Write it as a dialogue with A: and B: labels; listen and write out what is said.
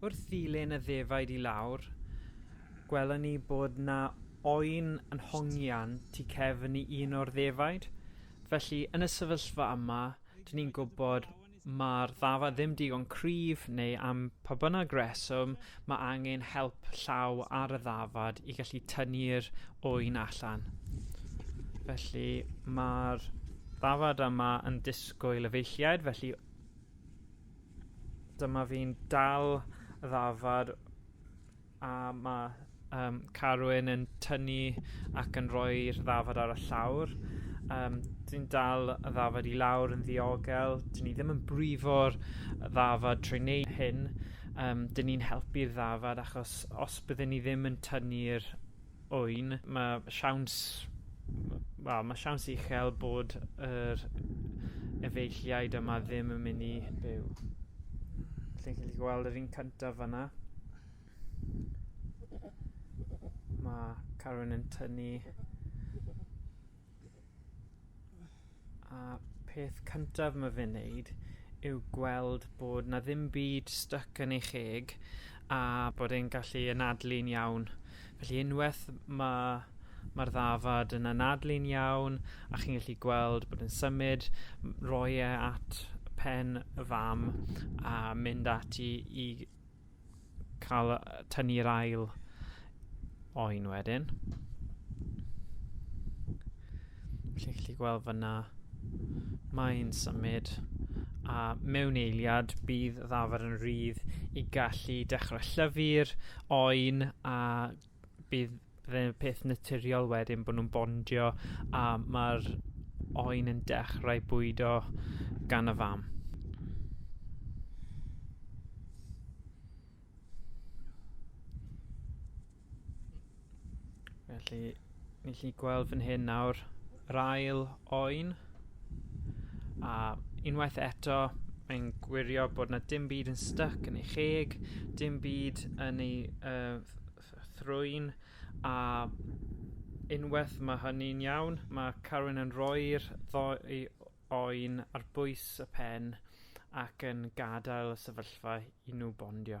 A: Wrth ddilyn y ddefaid i lawr, gwelon ni bod 'na oen yn hongian tu cefn i un o'r ddefaid, felly yn y sefyllfa yma, 'dyn ni'n gwybod mae'r ddafad ddim digon cryf neu am pa bynnag reswm mae angen help llaw ar y ddafad i gallu tynnu'r ŵyn allan. Felly mae'r ddafad yma yn disgwyl efeilliaid felly dyma fi'n dal y ddafad a ma' yym Carwyn yn tynnu ac yn rhoi'r ddafad ar y llawr yym dwi'n dal y ddafad i lawr yn ddiogel 'dyn ni ddim yn brifo'r yy ddafad trwy neu' hyn yym 'dyn ni'n helpu'r ddafad achos os bydden ni ddim yn tynnu'r Ŵyn, mae siawns, wel, mae siawns uchel bod yr efeilliaid yma ddim yn mynd i byw. Chi'n gallu gweld yr un cyntaf fanna. Mae Carwyn yn tynnu A peth cyntaf ma fe'n neud yw gweld bod 'na ddim byd styc yn ei cheg a bod e'n gallu anadlu'n iawn. Felly unwaith ma' ma'r ddafad yn anadlu'n iawn a chi'n gallu gweld bod yn symud, m- roi e at pen y fam a mynd ati i cael tynnu'r ail oen wedyn. Felly chi'n gallu gweld fyna, mae'n symud a mewn eiliad bydd y ddafad yn rhydd i gallu dechrau llyfu'r oen a bydd fe'n peth naturiol wedyn bo' nw'n bondio a ma'r oen yn dechrau bwydo gan y fam. Felly, ni 'llu gweld fan hyn nawr yr ail oen, a unwaith eto, mae'n gwirio bod na dim byd yn styc yn ei cheg, dim byd yn ei uh, thrwyn, a unwaith mae hynny'n iawn, mae Carwyn yn rhoi'r ddoi oen ar bwys y pen ac yn gadael y sefyllfa i nhw bondio.